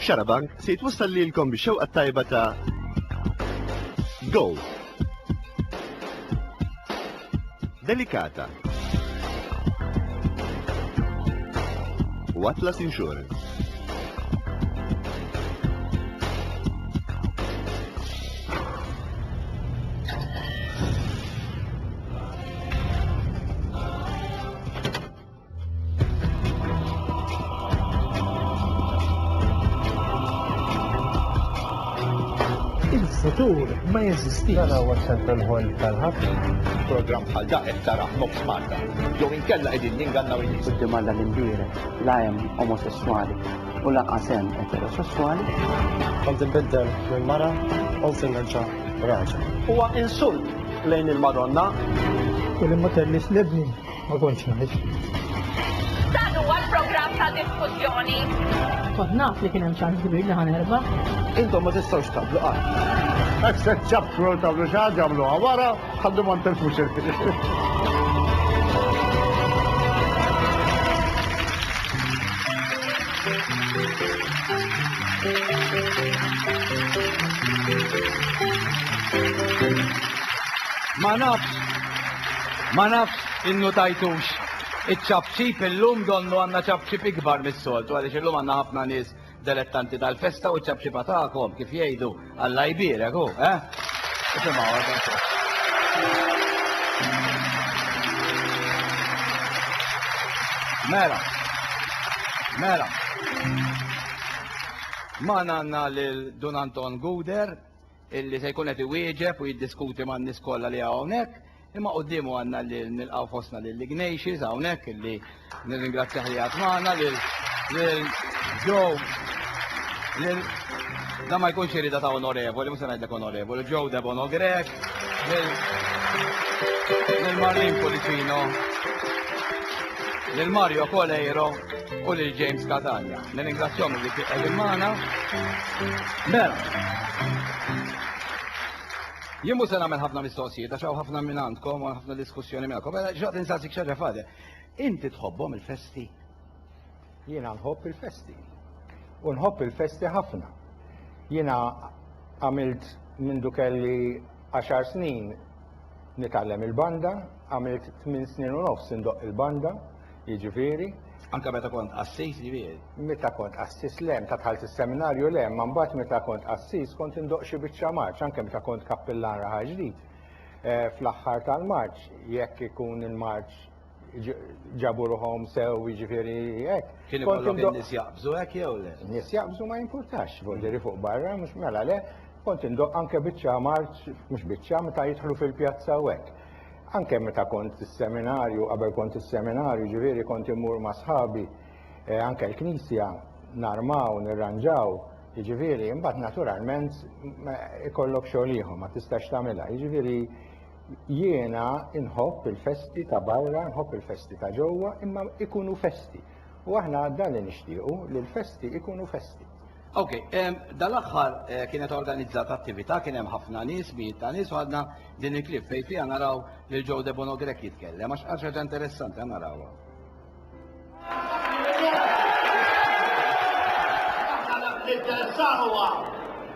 Xarabank se jitwassal lilkom bix-xewqa tajba ta' Gold. Delikata. U Atlas Insurance. il-futur ma jeżistix. Dan huwa ċentral ħol tal-ħafna. Program bħal da qed taraħ mob Malta. Jew inkella qegħdin ningannaw in-nies. Quddiem Alla l-imbierek, la hemm omosessuali, u lanqas hemm eterosesswali. Kont inbiddel minn mara u se nerġa' raġel. Huwa insult lejn il-Madonna. U li ma tellix l-ibni ma kontx ngħix. Dan huwa l-programm ta' diskussjoni. Kont naf li kien hemm ċans kbir li ħa nerbaħ. Intom ma tistgħux taqblu qatt. Hekk se ċċappru u tagħmlu xi ħaġa għamluha wara. Ħaddu ma ntelfux Ma nafx, ma nafx innu tajtux iċ-ċabċib illum donnu għanna ċabċib ikbar mis-soltu għaliex illum għanna ħafna nies Delettanti tal-festa u ċ-ċapċipa tagħkom kif jgħidu Alla jbierek hu, eh? Mela. Mela. Ma għandna lil Dun Anton Guder illi se jkun qed iwieġeb u jiddiskuti man-nies kollha li hawnhekk. Imma qoddimu għanna li nilqaw fosna lil Ignatius hawnhekk illi nirringrazzjah li għad magħna lil Joe lil da ma jkunx irida ta' onorevoli, mhux se ngħidlek onorevoli, Joe Debono Grek, lil Marlin Policino, lil Mario Coleiro u lil James Catania. Nirringrazzjahom li qegħdin magħna. Mela. Jien mhux se nagħmel ħafna mistoqsijiet għax hawn ħafna minn għandkom u ħafna diskussjoni minn għandkom. Mela xaqt insaqsik xaġa fade. Inti tħobbhom il-festi? Jiena nħobb il-festi. U nħobb il-festi ħafna. Jiena għamilt minn dukelli 10 snin nitgħallem il-banda, għamilt 8 snin u nofs indoq il-banda, jiġifieri. Anke meta kont qassis jiġifieri? Meta kont qassis le, meta dħalt is-seminarju le, imma mbagħad meta kont qassis kont indoqq xi biċċa marċ, anke meta kont kappillan Raħal Ġdid fl-aħħar tal-marċ, jekk ikun il-marċ ġabu ruħhom sew jiġifieri hekk. Kien ikollok in-nies jaqbżu hekk jew le? In-nies jaqbżu ma jimpurtax, vojtieri fuq barra, mhux mela le, kont indoqq anke biċċa marċ, mhux biċċa, meta jidħlu fil-pjazza u hekk. Anke meta kont fis-seminarju, qabel kont fis-seminarju, ġifieri kont immur ma' sħabi eh, anke l-knisja, narmaw, nirranġaw, jiġifieri imbagħad naturalment ikollok xogħol ieħor ma tistax tagħmilha. Jiġifieri jiena inħobb il-festi ta' barra, nħobb il-festi ta' ġewwa, imma ikunu festi. U aħna dan li nixtiequ li l-festi ikunu festi. Ok, dal-axħar eh, kienet organizzata attività, kien hemm ħafna nies, mijiet ta' nies, u għadna din il-klip fej fija naraw lil Joe De Bono Grek jitkellem, għax għax ħaġa interessanti narawha. Ninteressawa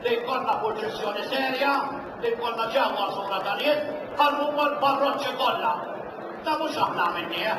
li jkollna proċessjoni serja, li jkollna ġewwa sura tal-jiet, bħal huma l-parroċċi kollha. Ta' mhux aħna minni, eh?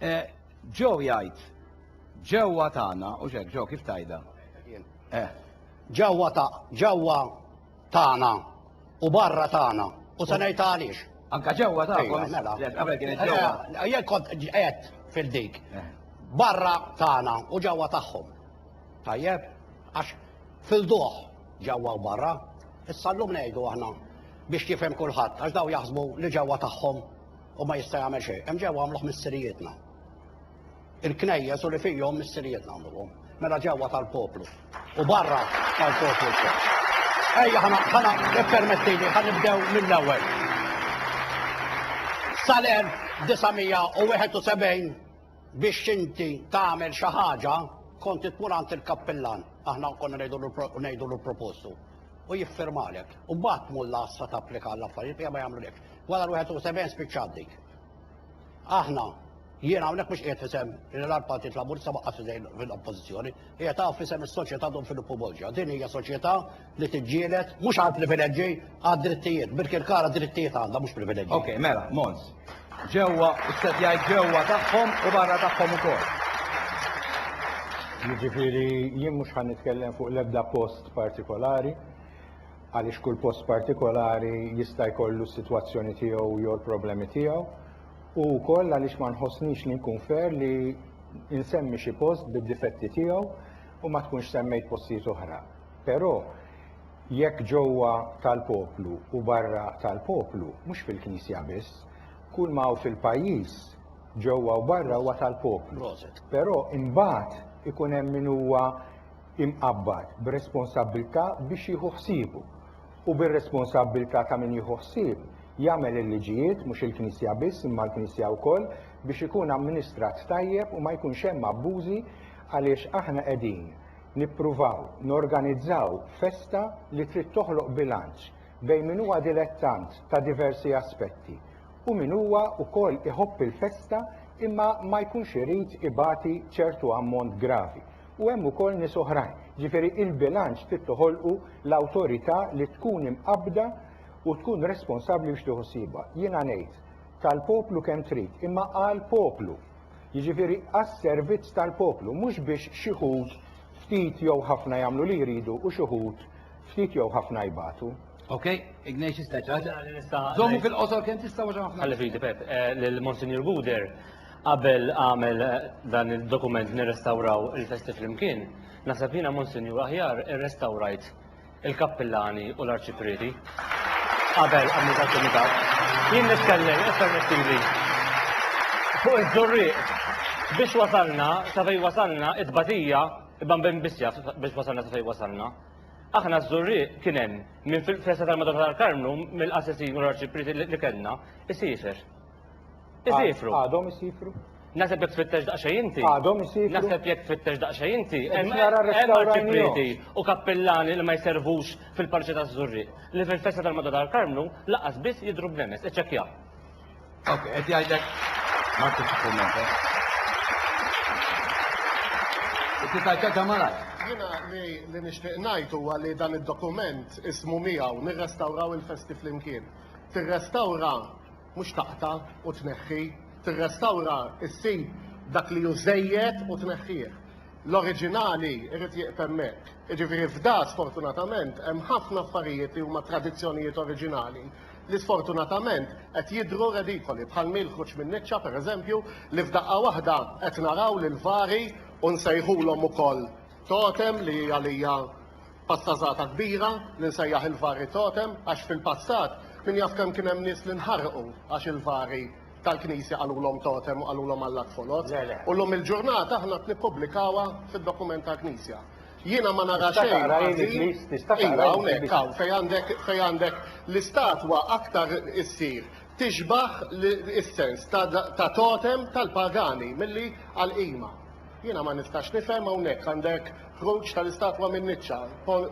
Eh, Ġew jgħid, ġewwa tagħna, u xek, ġew kif tajda? Eh. Ġewwa ta' ġewwa tagħna u barra tagħna u se ngħid għaliex. Anka ġewwa ta' iva, mela. Qabel kienet eh, ġewwa. Eh, jekk kont qed fil-dik. Barra tagħna u ġewwa tagħhom. Tajjeb, għax fil-duħ ġewwa u barra, issa llum ngħidu aħna biex jifhem kulħadd għax daw jaħsbu li ġewwa tagħhom U ma jista' jagħmel xejn. Hemm ġewwa għamluh missirijietna. Il-knejjes u li fihom missirijietna għamluhom. Mela ġewwa tal-poplu. U barra tal-poplu wkoll. Ejja ħana ħana permettili ħan nibdew mill-ewwel. Sal-1971 biex inti tagħmel xi ħaġa kont tmur għand il-kappillan aħna konna ngħidu l propostu u jiffirmalek. U mbagħad mulla issa tapplika l-affarijiet ma jagħmlulekx. Wara l-71 spiċċat dik. Aħna, jien hawnhekk mhux qiegħed fisem l Partit Laburista waqqaf fidejn fil-Oppożizzjoni, qiegħed hawn fisem is-soċjetà Don Filippo Bolġa. Din hija soċjetà li tiġġieled mhux għal privileġġi għad drittijiet, Birkirkara drittijiet għandha mhux privileġġi. Ok, mela, Mons. Ġewwa, istet jgħid ġewwa tagħhom u barra tagħhom ukoll. Jiġifieri jien mhux ħan nitkellem fuq l-ebda post partikolari, għaliex kull post partikolari jista' jkollu s-sitwazzjoni tiegħu jew il-problemi tiegħu, u wkoll għaliex ma nħossnix li nkun fair li nsemmi xi post bid-difetti tiegħu u ma tkunx semmejt postijiet oħra. Però jekk ġewwa tal-poplu u barra tal-poplu, mhux fil-Knisja biss, kull ma hawn fil-pajjiż ġewwa u barra huwa tal-poplu. Però imbagħad ikun hemm min huwa imqabbad b'responsabbiltà biex jieħu ħsiebu, u bir-responsabbiltà ta' min jieħu ħsieb, jagħmel il-liġijiet, mhux il-Knisja biss imma l-Knisja wkoll, biex ikun amministrat tajjeb u ma jkunx hemm abbużi għaliex aħna qegħdin nippruvaw norganizzaw festa li trid toħloq bilanċ bejn min huwa dilettant ta' diversi aspetti u min huwa wkoll iħobb il-festa imma ma jkunx irid ibati ċertu ammont gravi. u hemm ukoll nies oħrajn. Ġifieri il-bilanċ trid toħolqu l-awtorità li tkun imqabbda u tkun responsabbli biex tieħu ħsiebha. Jiena ngħid, tal-poplu kemm trid, imma għall-poplu. Jiġifieri għas-servizz tal-poplu, mhux biex xi ħud ftit jew ħafna jagħmlu li jridu u xi ħud ftit jew ħafna jbatu. Ok, Ignatius Teċa. Żommu fil-qosor kemm tista' għax ħafna. Ħalli fidi Pep, eh, lil Monsignor Guder qabel għamel dan id-dokument nirrestawraw il-festi flimkien, naħseb jiena Monsinjur aħjar irrestawrajt il-kappillani u l-arċiprieti. Qabel għamil dak il-mitat, jien nitkellem permettili fuq iż-żurrieq biex wasalna sa fejn wasalna it-tbatija bambin biss jaf biex wasalna sa fejn wasalna. Aħna ż-żurrieq kien hemm minn fil-festa tal-Madonna tal-Karmnu mill-qassisin u l-arċiprieti li kellna isifer. Isifru. Għadhom isifru. Naseb jek tfittex daqxa inti. Għadhom isifru. Naseb jek tfittex daqxa inti. Hemm arċiprieti u kappillani li ma jservux fil-parċi ta' żurri Li fil-festa tal-Madda tal-Karmnu laqas biss jidru b'nemes. Iċċekkja. Ok, qed jgħidlek. Ma tix kummenta. Titgħidha ta' malaj. Jiena li nixtieq ngħid huwa li dan id-dokument ismu miegħu nirrestawraw il-festi flimkien. Tirrestawra mhux taqta' u tneħħi, tirrestawra ssib dak li hu żejjed u tneħħih. L-oriġinali jrid jieqf hemmhekk. Jiġifieri f'da sfortunatament hemm ħafna affarijiet li huma tradizzjonijiet oriġinali li sfortunatament qed jidhru redikoli bħal mil ħruġ min-niċċa pereżempju li f'daqqa waħda qed naraw li l-vari u nsejħulhom ukoll totem li għalija Pattażata kbira li nsejjaħ il-Vari Totem għax fil-passat min jaf kemm kien hemm nies li nħarqu għax il-Vari tal-Knisja qalulhom Totem u qalulhom Alla t-Foloz. U llum il-ġurnata aħna qed nippubblikawha fid-dokument tal-Knisja. Jiena ma nara xejn ħażin. Iva, hawnhekk hawn fejn għandek fejn għandek l-istatwa aktar issir tixbah is-sens ta' totem tal-pagani milli għal qima. Jiena ma nistax nifhem hawnhekk għandek ħruġ tal-istatwa min-niċċa,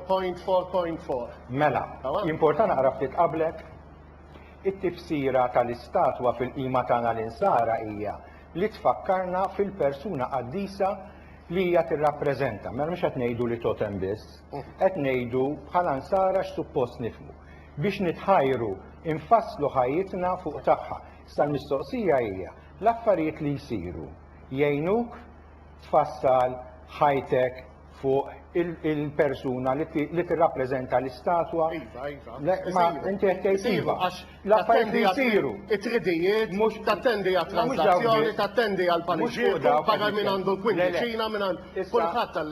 point 4.4. Mela, jimporta naqra ftit qablek? It-tifsira tal-istatwa fil-qima tagħna l-Insara hija li tfakkarna fil-persuna qaddisa li hija tirrappreżenta. Mela mhux qed ngħidu li totem biss, qed ngħidu bħala Nsara x'suppost nifhmu. Biex nitħajru, infasslu ħajjitna fuq tagħha. Issa l-mistoqsija hija, l-affarijiet li jsiru jgħinuk tfassal ħajtek fuq il-persuna li tirrappreżenta l-istatwa. Iva, iva. Ma inti qed tgħid iva. L-affarijiet li jsiru. It-tridijiet, mhux tattendi għat-transazzjoni, tattendi għal-paniċċijiet, barra minn għandu l-kwindiċina, minn kulħadd